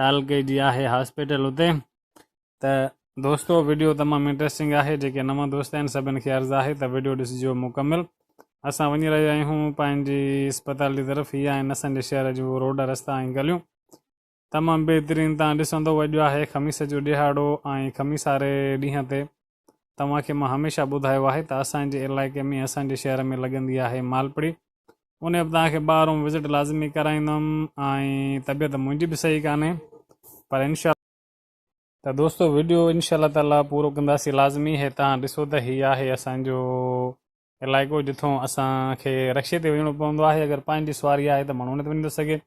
تعلقي جي آهي هاسپيٽل اتي ته دوستو ويڊيو تمام انٽرسٽنگ آهي جيڪي نوان دوست آهن سڀن کي عرض آهي ته ويڊيو ڏسجو مڪمل اسان وڃي رهيا آهيون پنهنجي اسپتال جي طرف هي آهن اسان جي شهر جون روڊ رستا ۽ گليون تمام بهترين تان ڏسندو وڄو آهي خميس جو ڏهاڙو ۽ خميس واري ڏينهن تي توهان کي مان هميشه ٻڌايو آهي ته اسان جي علائقي ۾ اسان جي شهر ۾ لڳندي آهي مالپڙي انهي به توهان کي ٻاهرون وزٽ لازمي ڪرائيندم ۽ طبيعت منهنجي به صحيح ڪانهي پر انشاء ته دوستو وڊيو انشاء الله تعالي پورو ڪنداسي لازمي هي توهان ڏسو ته هي آهي اسان جو علائقو جتون اسان کي رڪشي تي وڃڻو پوندو آهي اگر پنهنجي سواري آهي ته ماڻهو نه ٿي وڃي ٿو سگهي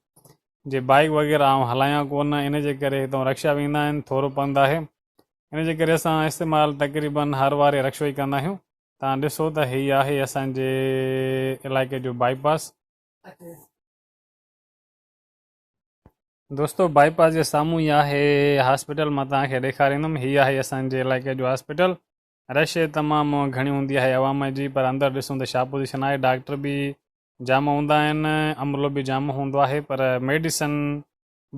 جي بائيڪ وغيره آئون هلايان ڪو نه ان جي ڪري هتون رڪشا ويندا آهن ٿورو پنڌ آهي ان جي ڪري اسان استعمال تقريبن هر واري رڪشو ئي ڪندا آهيون تان ڏسو ته هي آهي اسان جي علائقي جو بائي پاس دوستو بائي پاس جي سامهون ئي آهي هاسپيٽل مان تان کي ڏيکاريندم هي آهي اسان جي علائقي جو هاسپيٽل رش تمام گهڻي هوندي آهي عوام جي پر اندر ڏسون ته ڇا پوزيشن آهي ڊاڪٽر به جام هوندا آهن عملو به جام هوندو آهي پر ميڊيسن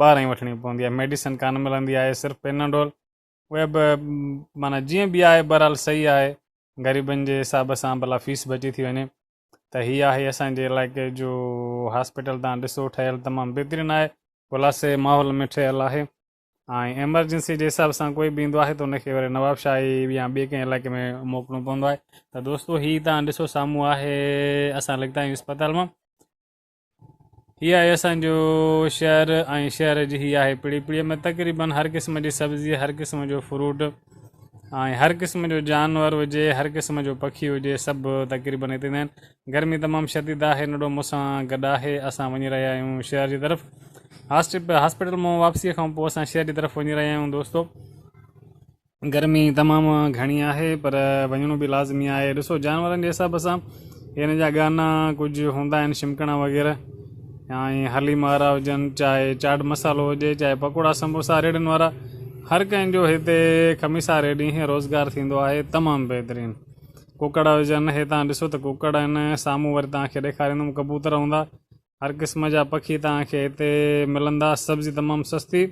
ٻاهران ئي وٺڻي پوندي آهي ميڊيسن ڪانه ملندي آهي صرف پيناڊول اهي به معنيٰ جيئن به آهي بهرحال صحيح آهي غريبن جي حساب سان ڀلا فيس بچي ٿي وڃي ته هي آهي اسان جي علائقي جو هاسپيٽل تان ڏسو ٺهيل تمام بهترين آهي خلاصي ماحول ۾ ٺهيل آهي ۽ ايمرجنسي جي حساب سان ڪوئي به ايندو آهي ته ان کي وري نواب شاهي يا ٻي ڪنهن علائقي ۾ موڪلڻو پوندو آهي ته دوستو هي تان ڏسو سامهون آهي اسان لڳتا آهيون اسپتال مان هي آهي اسان جو شهر ۽ شهر جي هي آهي پڙي پڙي ۾ تقريبن هر قسم جي سبزي هر قسم جو فروٽ ۽ هر قسم جو جانور هجي هر قسم جو پکي هجي سڀ تقريبن هتي آهن گرمي تمام شديد آهي نڊو مون سان گڏ آهي اسان وڃي رهيا آهيون شهر جي طرف هاسپيٽل مان واپسي کان پوء اسان شهر جي طرف وڃي رهيا آهيون دوستو گرمي تمام گهڻي آهي پر وڃڻو به لازمي آهي ڏسو جانورن جي حساب سان هن جا گانا ڪجهه هوندا آهن شمڪڻا وغيره ۽ حليم وارا هجن چاهي چاٽ مسالو هجي چاهي پڪوڙا سموسا ريڙهن وارا هر ڪنهن جو هتي کميسا ريڙهي روزگار ٿيندو آهي تمام بهترين ڪوڪڙ هجن، هي توهان ڏسو ته ڪوڪڙ آهن، سامهون وري توهان کي ڏيکاريندم ڪبوتر هوندا، هر قسم جا پکي توهان کي هتي ملندا، سبزي تمام سستي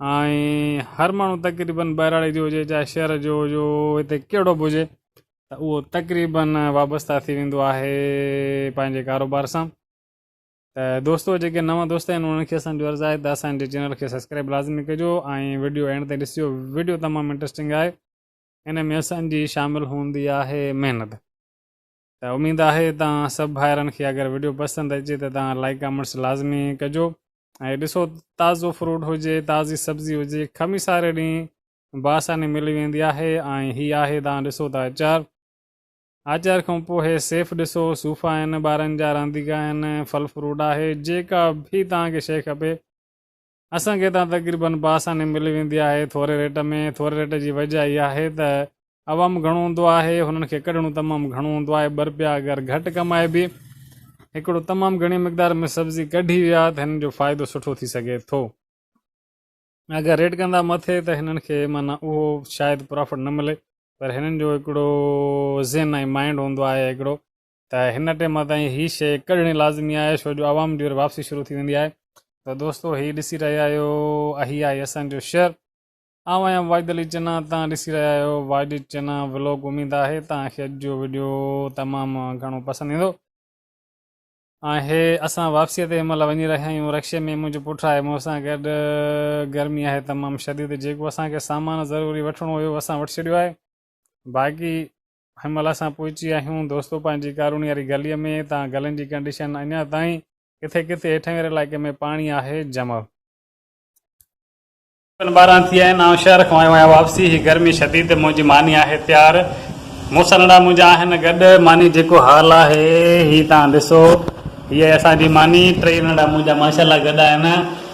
۽ هر ماڻهو تقريبن ٻهراڙي جو هجي چاهي شهر جو جو هتي ڪهڙو به هجي ته اهو تقريبن وابسته ٿي ويندو آهي پنهنجي ڪاروبار سان ته دوستو جيڪي نوان دوست آهن انهن کي اسان جو عرض آهي ته اسان جي چينل کي سبسڪرائب لازمي ڪجو ۽ ويڊيو اينڊ تائين ڏسجو ويڊيو تمام انٽرسٽنگ آهي ان ۾ اسان جي شامل هوندي آهي محنت ته اميد آهي توهان سڀ ڀائرن کي اگر وڊيو پسند اچي ته توهان لائڪ ڪامينٽس لازمي ڪجو ۽ ڏسو تازو فروٽ هجي تازي سبزي هجي کمي ساري ڏينهن باساني ملي ويندي آهي ۽ هي آهي توهان ڏسو ته اچار اچار کان پوء هي سيف ڏسو صوفا آهن ٻارن جا رانديڪا آهن ڦل فروٽ آهي جيڪا به توهان کي شي کپي اسان کي هتان تقريبن بآساني ملي ويندي آهي ٿوري ريٽ ۾، ٿوري ريٽ جي وجه اها آهي ته عوام گهڻو هوندو آهي هنن کي ڪڍڻو تمام گهڻو هوندو آهي ٻه رپيا اگر گهٽ ڪمائبي هڪڙو تمام گهڻي مقدار ۾ سبزي ڪڍي ويا ته هنن جو فائدو سٺو ٿي سگهي ٿو اگر ريٽ ڪندا مٿي ته هنن کي معنيٰ اهو شايد پرافٽ نه ملي پر هنن جو هڪڙو ذهن ۽ مائنڊ هوندو آهي هڪڙو ته هن ٽيم تائين هي شيء ڪڍڻي لازمي آهي شو جو عوام جي وري واپسي شروع ٿي ويندي آهي ته دوستو هي ڏسي رهيا آهيو اهي آهي اسان جو شهر آئون آهيان واجد علي چنا تان ڏسي رهيا آهيو واجد چنا ولوگ اميد آهي تان کي اڄ جو ويڊيو تمام گهڻو پسند ايندو آهي اسان واپسي تي مل وڃي رهيا آهيون رڪشي ۾ منهنجو پٽ آهي مون سان گڏ گرمي آهي تمام شديد جيڪو اسان کي سامان ضروري وٺڻو هيو اسان وٺي ڇڏيو آهي باقي هن مهل اسان پهچي آهيون دوستوپان جي ڪاروڻي واري گلي ۾، تان گلين جي ڪنڊيشن اڃا تائين ڪٿي ڪٿي هيٺين واري علائقي ۾ پاڻي آهي جمع. تقريبن ٻارهن ٿي ويا آهن آئون شهر کان آيو آهيان واپسي هي گرمي شديد منهنجي ماني آهي تيار موسلڙا منهنجا آهن گڏ ماني جيڪو حال آهي هي تان ڏسو هي آهي اسان جي ماني ٽيئي نڙا منهنجا ماشاءالله گڏ آهن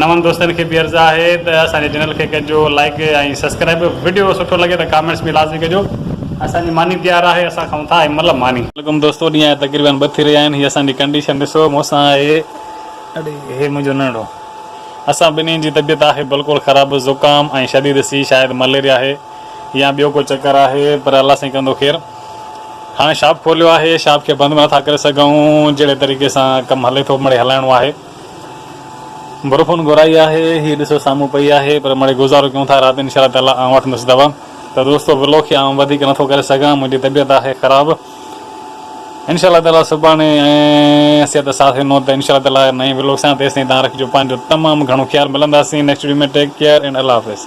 نون دوستن کي به عرض آهي ته اسان جي چينل کي ڪجو لائيڪ ۽ سبسڪرائيب وڊيو سٺو لڳي ته ڪامينٽس به لازمي ڪجو اسان جي ماني تيار آهي اسان کائون ٿا ايم مطلب ماني. عليڪم دوستو ڏينهن جا تقريبن ٻه ٿي رهيا آهن هي اسان جي ڪنڊيشن ڏسو مون سان آهي اڙي هي منهنجو ننڙو اسان ٻنهي جي طبيعت آهي بلڪل خراب زڪام ۽ شديد سي شايد مليريا آهي يا ٻيو ڪو چڪر آهي پر الله سائين ڪندو خير هاڻي شاپ کوليو آهي شاپ کي بند به نٿا ڪري سگهون جهڙي طريقي سان ڪم هلي ٿو مڙي هلائڻو آهي. بروفون گهرائي آهي هي ڏسو سامهون پئي آهي پر مڙئي گذارو ڪيون ٿا رات انشاء الله تعالي آئون وٺندس دوا ته دوستو ولوگ کي آئون وڌيڪ نٿو ڪري سگهان منهنجي طبيعت آهي خراب انشاء الله تعالي سڀاڻي ۽ صحت ساٿ ڏنو ته انشاء الله تعالي نئين ولوگ سان تيستائين تهان رکجو پنهنجو تمام گهڻو خيال ملنداسين next video ۾ take care and الله حافظ.